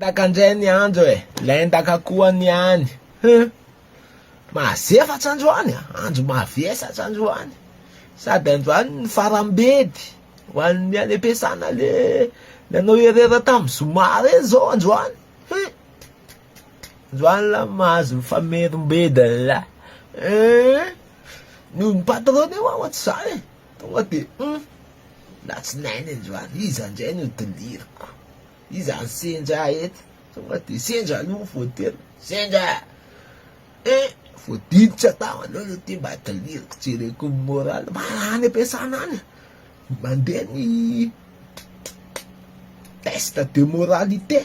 Endaka ndray ny anjo e! Lendaka koa ny any! Huh! Mahazefatsa androany a! Anjo mavesatra androany! Sady androany ny farambedy ho an'ny any am-piasana le nanao erreur tamin'ny zoma reny izao androany! Huh! Androany la mahazo famerim-beda la! Huh! Noho ny patron eo aho tsy zany e! Tonga de huh! Latsinainy androany, iza ndray no diliriko? Iza ny sendra eto? Tonga dia sendra aloha voatery sendra eh! Voadiditra tao aloha ilay ity mba driniriko jereko ny morale mba any am-piasana any mandeha ny test de moralité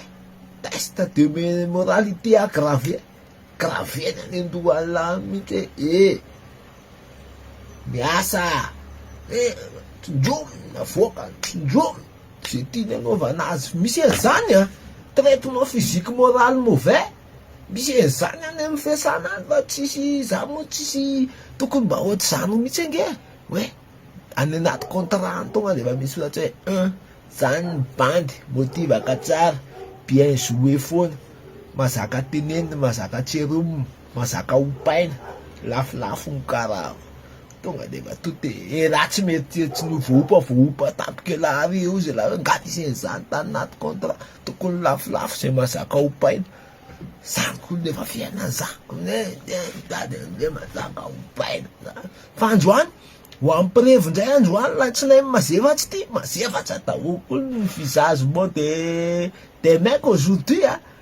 test de moralité aggravé gravé ny any an-dohalany mihitsy hoe eh miasa eh tsindromina voaka tsindromina Ze tiany anaovana azy misy an'izany a! Traitement physique moral mauvais misy an'izany any amin'ny fiasana any fa tsisy za moa tsisy tokony mba ohatr'izany ho mitsy ange hoe any anaty contrat any tonga de efa misy soratra hoe un zany ny bandy motivaka tsara bien jouer foana mazaka tenenina mazaka tseromina. Mazaka ompaina, lafolafo ny karama, tonga de efa tout est et raha tsy mety tsy tsy no voaompa voaompa tapitra ela ary eo izy la hoe nga nisy an'izany tany anaty contrat, tokony lafolafo zay mazaka ompaina, zany ko le efa fiainan'zako ne de mitady an'le mazaka ompaina za, fa androany ho an'ny mpirevy ndray androany latsinainy mazefatsy ty, mazefatsa daholo ny visage mode demain qu'aujourd'hui a.